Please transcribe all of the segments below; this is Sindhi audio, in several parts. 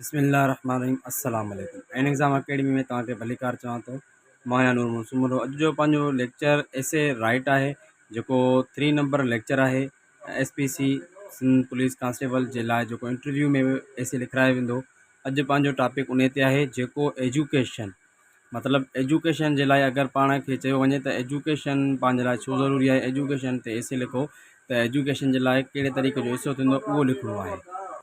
بسم الله الرحمٰن الرحيم السلام عليڪم عين ايگزام اڪيڊمي ۾ توهان کي ڀليڪار چوان ٿو مان آهيان نور محمد سومرو اڄ جو پنهنجو ليڪچر ايسي رائٽ آهي جيڪو ٿري نمبر ليڪچر آهي S P C Sindh police constable جي لاء جيڪو انٽرويو ۾ ايسي لکرايو ويندو اڄ پنهنجو ٽاپڪ ان تي آهي جيڪو ايجوڪيشن مطلب ايجوڪيشن جي لاء اگر پاڻ کي چيو وڃي ته ايجوڪيشن پنهنجي لاء ڇو ضروري آهي ايجوڪيشن تي ايسي لکو ته ايجوڪيشن جي لاء ڪهڙي طريقي جو ايسو ٿيندو اهو لکڻو آهي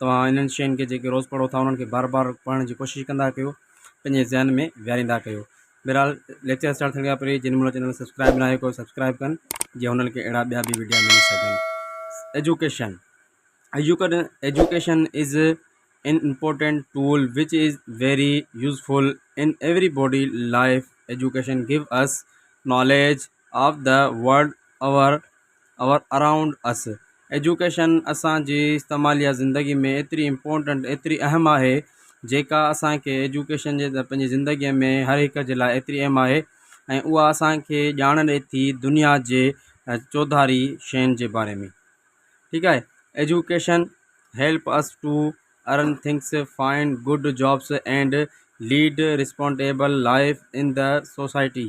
توهان انهن شين کي جيڪي روز پڙهو ٿا انهن کي بار بار پڙهڻ جي ڪوشش ڪندا ڪيو پنهنجي ذهن ۾ ويهاريندا ڪيو بهرحال ليڪچر اسٽارٽ ٿيڻ کان پهرين جن منهن چينل سبسڪرائب ناهي ڪيو سبسڪرائب ڪن جي هنن کي اهڙا ٻيا به ويڊيا ملي سگهن ايجوڪيشن ايجوڪن education is an important tool which is very useful in every body life education give us knowledge of the world over over around us education اسان جي استعماليه زندگي ۾ ايتري امپورٽنٽ ايتري اهم آهي جيڪا اسان کي ايجوڪيشن جي پنهنجي زندگي ۾ هر هڪ جي لاء ايتري اهم آهي ۽ اها اسان کي ڄاڻ ڏئي ٿي دنيا جي چوڌاري شين جي باري ۾ ٺيڪ آهي education help us to earn things find good jobs and lead responsible life in the society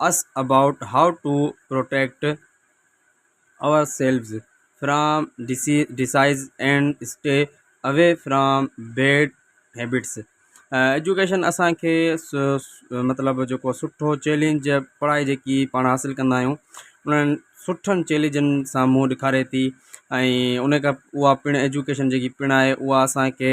us about how to protect ourselves from diseases and stay away from bad habits education اسانکي مطلب جيڪو سٺو چئلينج پڙهائي جيڪي پاڻ حاصل ڪندا آهيون انهن سٺن چئلينجن سان منهن ڏيکاري ٿي ۽ ان کان اها پڻ ايجوڪيشن جيڪي پڻ آهي اها اسانکي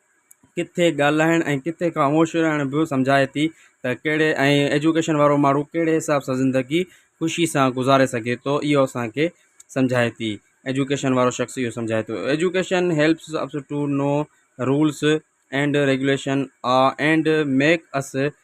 ڪٿي ڳالهائڻ ۽ ڪٿي خاموش رهڻ به سمجهائي ٿي ته ڪهڙي ۽ ايجوڪيشن وارو ماڻهو ڪهڙي حساب سان زندگي خوشي سان گذاري سگهي ٿو اهو اسانکي سمجهائي ٿي ايجوڪيشن وارو شخص اهو سمجهائي ٿو education helps us to know rules and regulation uh and make us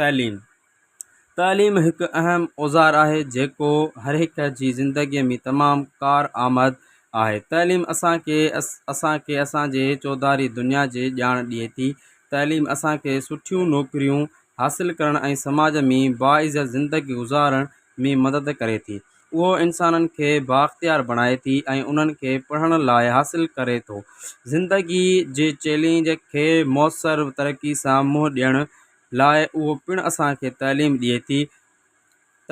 تعليم، تعليم هڪ اهم اوزار آهي جيڪو هر هڪ جي زندگي ۾ تمام ڪار آمد آهي. تعليم اسان کي اسان کي اسان جي چوڌاري دنيا جي ڄاڻ ڏئي ٿي. تعليم اسان کي سٺيون نوڪريون حاصل ڪرڻ ۽ سماج ۾ باعزت زندگي گذارڻ ۾ مدد ڪري ٿي. اهو انسانن کي بااختيار بڻائي ٿي ۽ انهن کي پڙهڻ لاء حاصل ڪري ٿو. زندگيء جي چئلينج کي موثر طريقي سان منهن ڏيڻ لاء اهو پڻ اسان کي تعليم ڏئي ٿي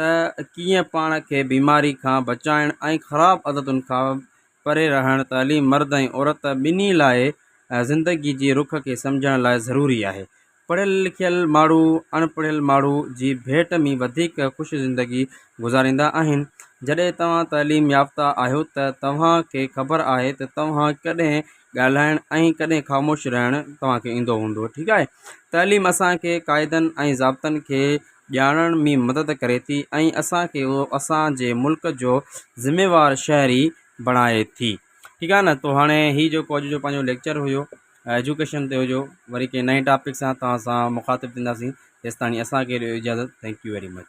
ته ڪيئن پاڻ کي بيماري کان بچائڻ ۽ خراب عادتن کان پري رهڻ تعليم مرد ۽ عورت ٻنهي لاء زندگيء جي رخ کي سمجهڻ لاء ضروري آهي. پڙهيل لکيل ماڻهو اڻ پڙهيل ماڻهو جي ڀيٽ ۾ وڌيڪ خوش زندگي گذاريندا آهن. جڏهن توهان تعليم يافته آهيو ته توهان کي خبر آهي ته توهان ڪڏهن ڳالهائڻ ۽ ڪڏهن خاموش رهڻ توهان کي ايندو هوندو ٺيڪ آهي. تعليم اسان کي قاعدن ۽ ضابطن کي ڄاڻڻ ۾ مدد ڪري ٿي ۽ اسان کي اهو اسان جي ملڪ جو ذميوار شهري بڻائي ٿي ٺيڪ آهي نه تو هاڻي هي جيڪو اڄ جو پنهنجو ليڪچر هيو. ايجوڪيشن تي هجو وري ڪنهن نئين ٽاپڪ سان توهان سان مخاطب ٿينداسين تيستاڻي اسان کي ڏيو اجازت ٿينڪ يو ويري مچ.